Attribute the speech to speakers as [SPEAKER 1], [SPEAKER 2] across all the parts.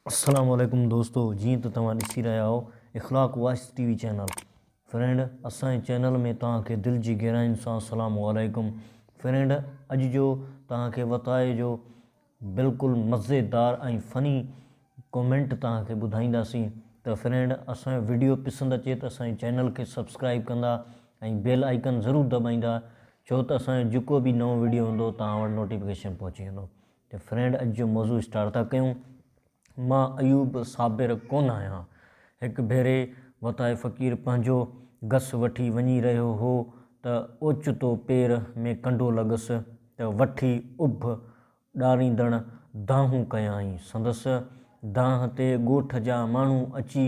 [SPEAKER 1] السلام عليڪم دوستو جيئن ته توهان ڏسي رهيا آهو Akhlaq voice TV channel friend اسان جي چينل ۾ توهان کي دل جي گهراين سان السلام عليڪم فرينڊ اڄ جو توهان کي وتايي جو بلڪل مزيدار ۽ فني ڪومينٽ توهان کي ٻڌائينداسين ته فرينڊ اسان جو ويڊيو پسند اچي ته اسان جي چينل کي سبسڪرائب ڪندا ۽ بيل آئيڪن ضرور دٻائيندا ڇو ته اسان جو جيڪو به نئون ويڊيو هوندو توهان وٽ نوٽيفڪيشن پهچي ويندو ته فرينڊ اڄ جو موضوع اسٽارٽ ٿا ڪيون. مان ايوب صابر ڪونه آهيان. هڪ ڀيري وتائي فقير پنهنجو گس وٺي وڃي رهيو هو ته اوچتو پير ۾ ڪنڊو لڳس ته وٺي اڀ ڏاريندڙ دانهون ڪيائين. سندس دانهن تي ڳوٺ جا ماڻهو اچي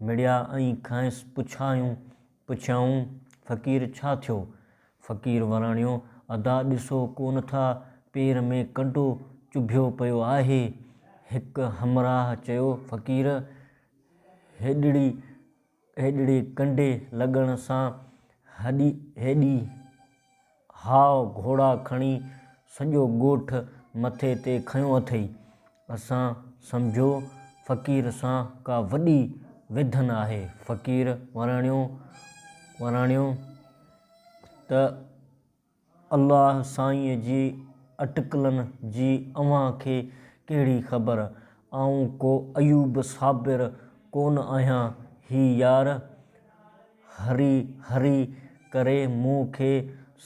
[SPEAKER 1] مڙيا ۽ کانئس پڇايون پڇيائون، فقير ڇا ٿيو؟ فقير وراڻيو، ادا ڏسو ڪونه ٿا پير ۾ ڪنڊو چڀيو پيو آهي. هڪ همراهه چيو، فقير هيڏڙي هيڏڙي ڪنڊي لڳڻ سان هڏي هيڏي. هاء گهوڙا کڻي سڄو ڳوٺ مٿي تي کنيو اٿئي. اسان سمجهيو فقير سان ڪا وڏي ويڌن آهي. فقير وراڻيو وراڻيو ته الله سائينء جي اٽڪلن جي اوهان کي ڪهڙي خبر، آئون ڪو ايوب صابر ڪونه آهيان. هي يار هري هري ڪري مون کي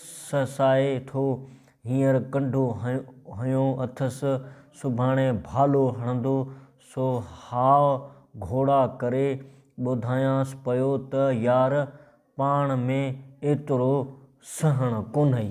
[SPEAKER 1] سسائي ٿو. هينئر ڪنڍو هنيو اٿس، سڀاڻي ڀالو هڻندو، سو هاء گهوڙا ڪري ٻڌايانس پيو ته يار پاڻ ۾ ايترو سهڻ ڪونهئي.